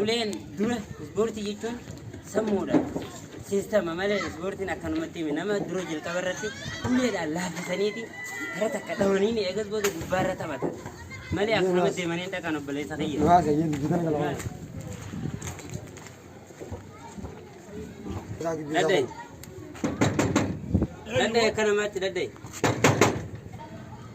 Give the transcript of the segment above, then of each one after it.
Uleen dura ispoortii jechuun sammuudha. Siistama malee ispoortiin akkanumatti himi. Nama dura jalqaba irratti uleedhaan laaffisaniiti gara takka dhawaniin eegas booda gubbaarra taphatan. Malee akkanumatti deemanii hin dhaqan obboleessa kiyya. Dhugaa kee jedhu jitan kana waan. Isaa gidduu isaa Daddayi. kun. Daddayi akkanumatti daddayi.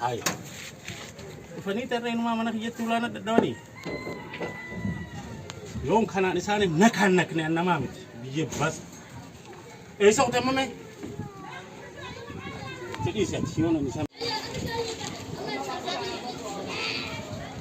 Hai. Dhufanii tarree inumaa mana kiyyatti ulaan adda dhawanii. Yoon kanaan isaaniif nakaan nakne an namaa miti. Biyyee bas. Eessa utamame? Fedhii isaati yoon an isaan.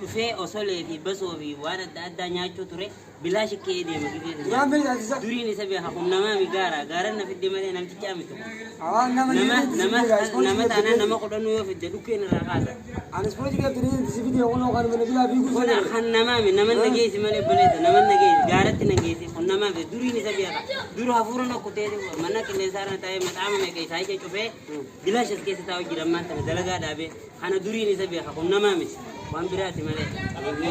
dhufee osolee fi basoo fi waan adda addaa nyaachuu ture bilaashi ke'ee deema gidee sana duriin isa beeka kun namaa mi gaara gaaran na fidde malee namticha ami tokko nama nama nama taanaan nama kudhanuu yoo fidde dhukkeen irraa kaasa kun kan namaa mi nama na geessi malee baleessa nama na geessi gaaratti na geessi kun namaa mi duriin isa beeka duru hafuura na kutee mana qilleensaa irra taa'ee maxaama meeqa isaa ija cufee bilaashi as keessa taa'u jira ammaan tana dalagaa dhaabee Kana duriin isa beeka kun namaa miti waan biraati malee qabeenya.